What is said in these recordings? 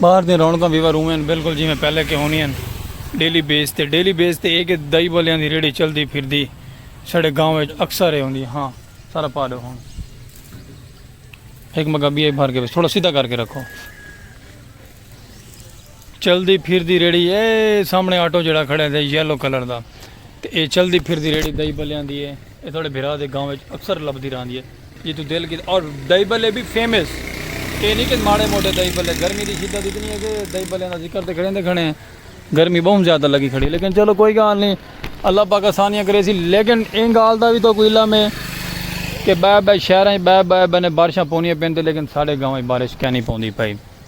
باہر دے رونکاں ویور اوویں ہن بالکل جیویں پہلے کے ہونی ہن ڈیلی بیس تے ڈیلی بیس تے اے کہ دائی بلیاں دی ریڑی چلدی پھر دی سڑے گاؤں وچ اکثر اے ہوندی ہاں سارا پا دو ہن ایک مگا بی اے بھر کے بس تھوڑا سیدھا کر کے رکھو چلدی پھردی ریڑھی اے سامنے آٹو جڑا کھڑے دے یلو کلر دا تے اے چلدی پھردی ریڑھی دائی بلیاں دی اے اے تھوڑے بھرا دے گاؤں وچ اکثر لبدی راندی اے جی تو دل کی اور دائی بلے بھی فیمس اے نہیں کہ ماڑے موٹے دائی بلے گرمی دی شدت اتنی ہے کہ دائی بلیاں دا ذکر تے کھڑے دے کھڑے ہیں گرمی بہت زیادہ لگی کھڑی لیکن چلو کوئی گال نہیں اللہ پاک آسانیاں کرے سی لیکن این گال دا بھی تو کوئی علم ہے کہ بے بے شہراں بے بے بنے بارشاں پونیاں پین تے لیکن ساڑے گاؤں بارش کہنی پوندی پئی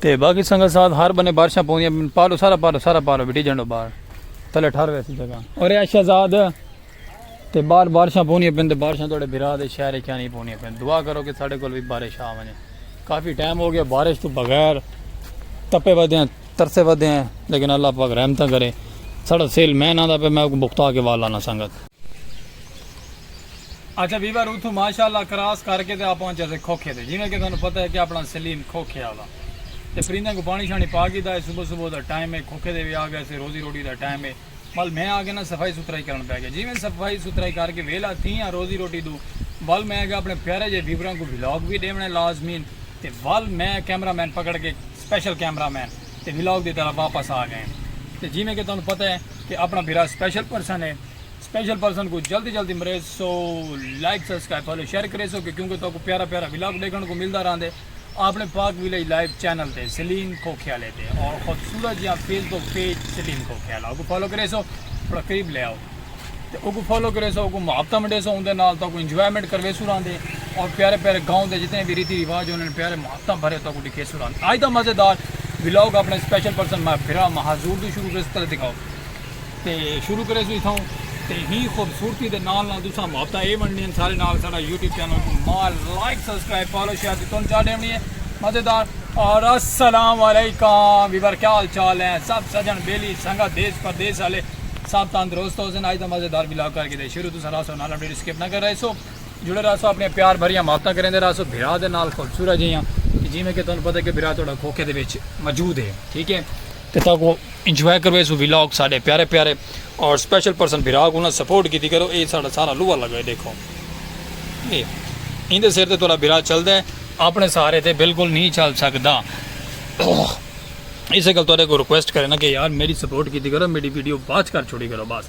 تے باقی سنگت ساتھ ہر بنے بارشاں پوندیاں پالو سارا پالو سارا پالو بیٹی جنڈو بار تلے ٹھار ویسی جگہ اور اے شہزاد تے بار بارشاں پوندیاں پن تے بارشاں توڑے بھرا دے شہر کیا نہیں پوندیاں پن دعا کرو کہ ساڈے کول بھی بارش آ ونے کافی ٹائم ہو گیا بارش تو بغیر تپے ودے ہیں ترسے ودے ہیں لیکن اللہ پاک رحمتہ کرے ساڈا سیل میں نہ دا پہ میں کو بختا کے والا نہ سنگت اچھا ویور اتھوں ماشاء اللہ کراس کر کے تے آپ پہنچ جاسے کھوکھے تے جیویں کہ تانوں پتہ ہے کہ اپنا سلیم کھوکھے آلا تے پرندیاں کوں پانی شانی پا گھیدا ہے صبح صبح دا ٹائم ہے کھوکھے تے وی آ گئے سے روزی روٹی دا ٹائم ہے ول میں آ کے نا صفائی ستھرائی کرن پے گیا جیویں صفائی ستھرائی کر کے ویلا تھی آں روزی روٹی دو ول میں اگے اپنے پیارے جے ویوراں کوں ولاگ وی ڈیونا ہے لازمین تے ول میں کیمرہ مین پکڑ کے سپیشل کیمرہ مین تے ولاگ دی طرف واپس آ گئے تے جیویں کہ تانوں پتہ ہے کہ اپنا بھرا سپیشل پرسن ہے سپیشل پرسن کو جلدی جلدی مرے so like subscribe follow share کرے سو کہ کیونکہ تو کو پیارا پیارا ولاگ دیکھن کو ملدا رہندے اپنے پاک ویلیج لائیو چینل تے سلیم کھوکھیالے تے اور خوبصورت جہاں Facebook page Saleem Khokhiala اوکو فالو کرے سو تھوڑا قریب لے آؤ تے اوکو فالو کرے سو اوکو محبتہ منڈے سو اندے نال تو کو انجوائمنٹ کروے سو رہندے اور پیارے پیارے گاؤں دے جتنے بھی ریتی رواج ہونے پیارے محبتہ بھرے تو کو ڈکھے سو رہندے آج دا مزیدار ولاگ اپنے سپیشل پرسن مہبرہ مہازور دو شروع کرے سو تے دکھاؤ تے شروع کریسوں اتھاؤں تے ہی خوبصورتی دے نال نال تساں محبتہ اے ونڈنی ہیں سارے نال ساڑا یوٹیوب چینل کو مال لائک سبسکرائب فالو شیئر دی تون چاہ ڈیونی ہیں مزیدار اور السلام علیکم ویور کیا حال چال ہیں سب سجن بیلی سنگت دیس پردیس والے سب تندرست ہو سن آج دا مزیدار بلاگ کر کے دے شروع تساں راسو نال اپڈیٹ سکپ نہ کر رہے سو جڑے راسو اپنے پیار بھریاں محبتہ کریں دے راسو بھرا دے نال خوبصورت جیاں جی میں کہ تون پتہ کہ بھرا توڑا کھوکھے دے بیچ موجود ہے ٹھیک ہے تے تاکوں انجوائے کرویسوں ولاگ ساڈے پیارے پیارے اور سپیشل پرسن بھرا کو نا سپورٹ کیتی کرو اے ساڈا سارا لوہا لگا اے ڈیکھو اے ایندے سر تے تہاڈا بھرا چلدا اے اپنے سہارے تے بالکل نہیں چل سکدا اسے گل تہاڈے کو ریکویسٹ کرے نا کہ یار میڈی سپورٹ کیتی کرو میڈی ویڈیو واچ کر چھوڑی کرو بس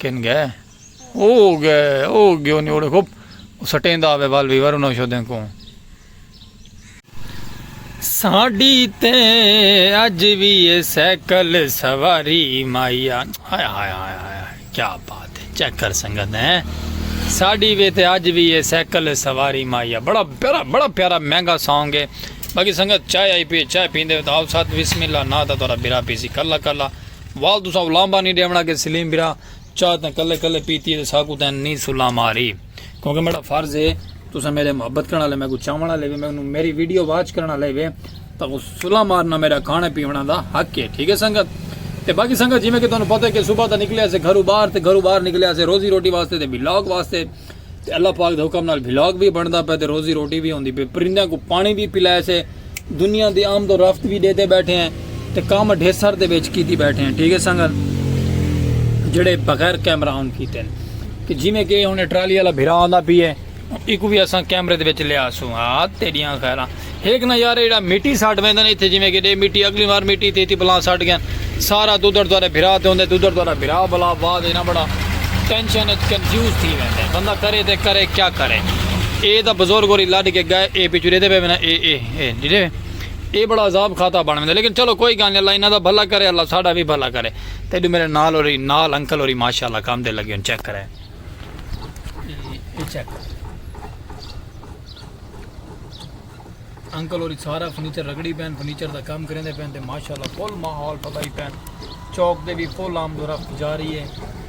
کن گئے او گئے او گیو نی اوڑے خوب سٹیندا آوے وال ویور انہاں شودیں کو ساڈی تے اج وی سائیکل سواری مایا ہائے ہائے ہائے ہائے کیا بات ہے چیک کر سنگت ہے ساڈی وی تے اج وی سائیکل سواری مایا بڑا پیارا بڑا پیارا مہنگا سانگ ہے باقی سنگت چائے آئی پی چائے پیندے تو آؤ ساتھ بسم اللہ نہ تا تھوڑا برا پیسی کلا کلا وال تساں او لانبا نی ڈیونڑا کہ سلیم برا چاہ تاں کلے کلے پیتی ہے تے ساکوں تاں نی سلا ماری کیونکہ میڈا فرض ہے تساں میڈے محبت کرن والے میکوں چاون والے وے میکوں میری ویڈیو واچ کرن والے وے تاں سلا مارنا میڈا کھانے پیونا دا حق ہے ٹھیک ہے سنگت تے باقی سنگت جویں کہ تانوں پتہ ہے کہ صبح تاں نکلے اسے گھرو باہر تے گھرو باہر نکلے اسے روزی روٹی واسطے تے ولاگ واسطے تے اللہ پاک دے حکم نال بھلاگ وی بندا پے تے روزی روٹی وی ہوندی پے پرندیاں کو پانی وی پلائے سے دنیا دی آمد و رفت وی ڈیتے بیٹھے ہیں تے کام ڈھیسر دے وچ کیتی بیٹھے ہیں ٹھیک ہے سنگت جڑے بغیر کیمرہ آن کیتے ہیں کہ جی میں کہ ہن ٹرالی والا بھرا آندا پی ہے ایکو وی اساں کیمرے دے وچ لیا سو ہاں تیڈیاں خیراں ہک نہ یار ایڑا مٹی سٹ ویندن ایتھے جویں کہ ڈے مٹی اگلی وار مٹی تھی تھی بلا سٹ گئن سارا دودر دوارے بھرا تے ہوندے دودر دوارے بھرا بلا بعد اینا بڑا ٹینشن اچ کنفیوز تھی ویندے بندہ کرے تے کرے کیا کرے اے دا بزرگ ہوری لڈ کے گئے اے پچھو ڈے دے پے وینا اے اے اے ڈیڑے اے بڑا عذاب کھاتا بن ویندے لیکن چلو کوئی گال نہیں اللہ اینا دا بھلا کرے اللہ ساڈا وی بھلا کرے تے ڈو میرے نال ہوری نال انکل ہوری ماشاءاللہ کام دے لگے ہن چیک کرے اے چیک انکل ہوری سارا فرنیچر رگڑی پین فرنیچر دا کام کریندے پین تے ماشاءاللہ فل ماحول پتائی پین چوک دے بھی فل آمد و رفت جاری ہے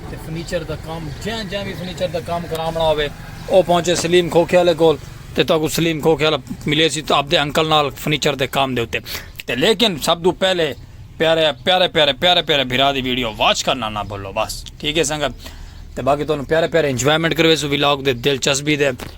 تے فرنیچر دا کام جہاں جہاں بھی فرنیچر دا کام کرامنا ہوئے او پہنچے سلیم کھوکھے والے کول تے تو کو سلیم کھوکھے والا ملے سی تو آپ دے انکل نال فرنیچر دے کام دے ہوتے تے لیکن سب دو پہلے پیارے پیارے پیارے پیارے پیارے بھرا دی ویڈیو واچ کرنا نہ بھولو بس ٹھیک ہے سنگت تے باقی تو پیارے پیارے انجوائمنٹ کروے سو ویلاگ دے دلچسپی دے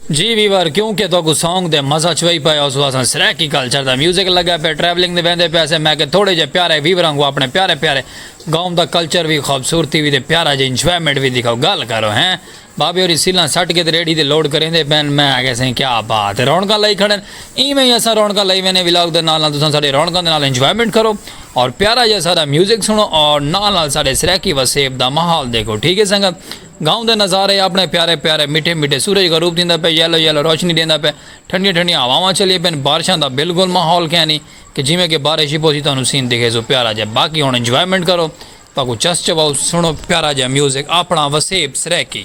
جی ویور کیوں کہ تہاکوں سانگ دے مزہ چوئی پئے ہو سو اساں سرائیکی کلچر دا میوزک لگے پئے ٹریولنگ دے ویندے پئے سے میں کہ تھوڑے جے پیارے ویور آنگوں اپنے پیارے پیارے گاؤں دا کلچر وی خوبصورتی وی تے پیارا جے انجوائمنٹ وی دکھاؤ گل کرو ہیں بابے ہوری سیلاں سٹ کے تے ریڈی تے لوڈ کریندے پئے ہن میں آکھیا سئیں کیا بات ہے رونقاں لائی کھڑے ہن ایویں ہی اساں رونقاں لائی ویندے ولاگ دے نال نال تساں ساڈے رونقاں دے نال انجوائمنٹ کرو اور پیارا جیہا ساڈا میوزک سنڑو اور نال نال ساڈے سرائیکی وسیب دا ماحول دیکھو ٹھیک ہے سنگت گاؤں دے نظارے آپݨے پیارے پیارے مٹھے مٹھے سورج غروب تھیندا پئے یلو یلو روشنی ݙیندا پئے ٹھنڈیاں ٹھنڈیاں ہواواں چلیے پئن بارشاں دا بالکل ماحول کینی کہ جیویں کہ بارش ہی پوسی تہاݙوں سین دکھے سو پیارا جئے باقی ہݨ انجوائمنٹ کرو تہاݙ کوں چس چواؤ سݨو پیارا جئے میوزک آپݨا وسیب سرائیکی۔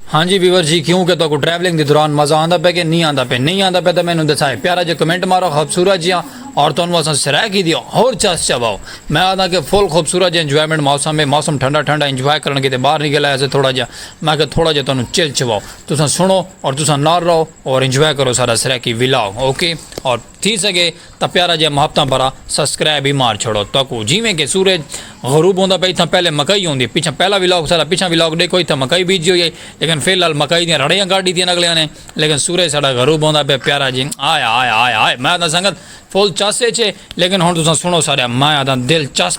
ہاں جی ویور جی کیوں کہ تہاکوں ٹریولنگ دے دوران مزہ آندا پئے کہ نی آندا پئے نی آندا پئے تاں مینوں دسائے پیارا جیا کمنٹ مارو خوبصورت جیاں اور تہانوں اساں سرائے کیتی ہور چس چواؤ میں آکھداں کہ فل خوبصورت جیا انجوائمنٹ موسم ہے موسم ٹھنڈا ٹھنڈا انجوائے کرن کیتے باہر نکل آئے اسے تھوڑا جیا میں آکھیا تھوڑا جیا تہانوں چل چواؤ تساں سنڑو اور تساں نال رہو اور انجوائے کرو ساڈا سرائیکی ولاگ اوکے اور تھی سگے تاں پیارا جیہا محبتاں بھرا سسکرائب ہی مار چھوڑو تہاکوں جیویں کہ سورج غروب ہوندا پئے اتھاں پہلے مکئی ہوندی ہے پچھاں پہلا ولاگ ساڈا پچھاں ولاگ ڈیکھو اتھاں مکئی بیجی ہوئی ہئی لیکن فی الحال مکئی دیاں رڑیاں کڈھ ڈتیاں اگلیاں نے لیکن سورج ساڈا غروب ہوندا پئے پیارا جی ہائے ہائے ہائے ہائے میں آکھداں سنگت فل چس اچ ہے لیکن ہن تساں سنڑو ساڈا میں آکھداں دل چس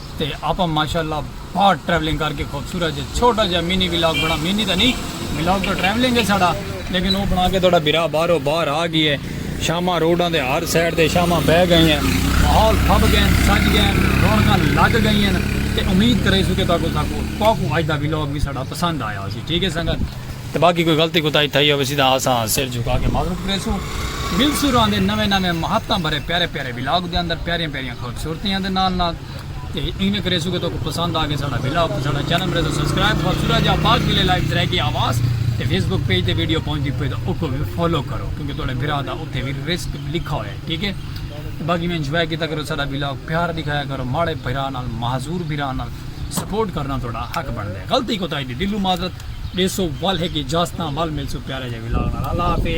تے آپاں ماشاءاللہ باہر ٹریولنگ کر کے خوبصورت جے چھوٹا جے مینی ولاگ بنا مینی تے نہیں ولاگ تو ٹریولنگ ہے ساڑا لیکن وہ بنا کے تھوڑا بھرا باہرو باہر آ گئی ہے شامہ روڈاں دے ہر سائڈ تے شامہ بہ گئی ہیں ماحول پھب گئے ہیں سج گئے ہیں رونکاں لگ گئی ہیں تے امید کرے سو کہ تاکو تاکو تاکو اج دا ولاگ بھی ساڑا پسند آیا ہو سی ٹھیک ہے سنگت تے باقی کوئی غلطی کوتا ہی تھا ہی ہو سی دا آسا سر جھکا کے معذرت کرے سو مل سو رہاں دے نوے نوے محبتاں بھرے پیارے پیارے ولاگ دے اندر پیارے پیارے خوبصورتیاں دے نال نال تے ایویں کریسو کہ تو پسند آ گئے ساڑا ویلا تے ساڑا چینل مرے تو سبسکرائب خوبصورت جا پاک ویلے لائیو ترے کی آواز تے فیس بک پیج تے ویڈیو پہنچ دی پے تو اوکو بھی فالو کرو کیونکہ توڑے بھرا دا اتھے بھی رسک لکھا ہویا ہے ٹھیک ہے باقی میں انجوائے کیتا کرو ساڑا ویلا پیار دکھایا کرو ماڑے بھرا نال معذور بھرا نال سپورٹ کرنا توڑا حق بن دے غلطی کو تائی دی دلو معذرت ڈیسو وال ہے کہ جاستان وال ملسو پیارے جا ویلا اللہ حافظ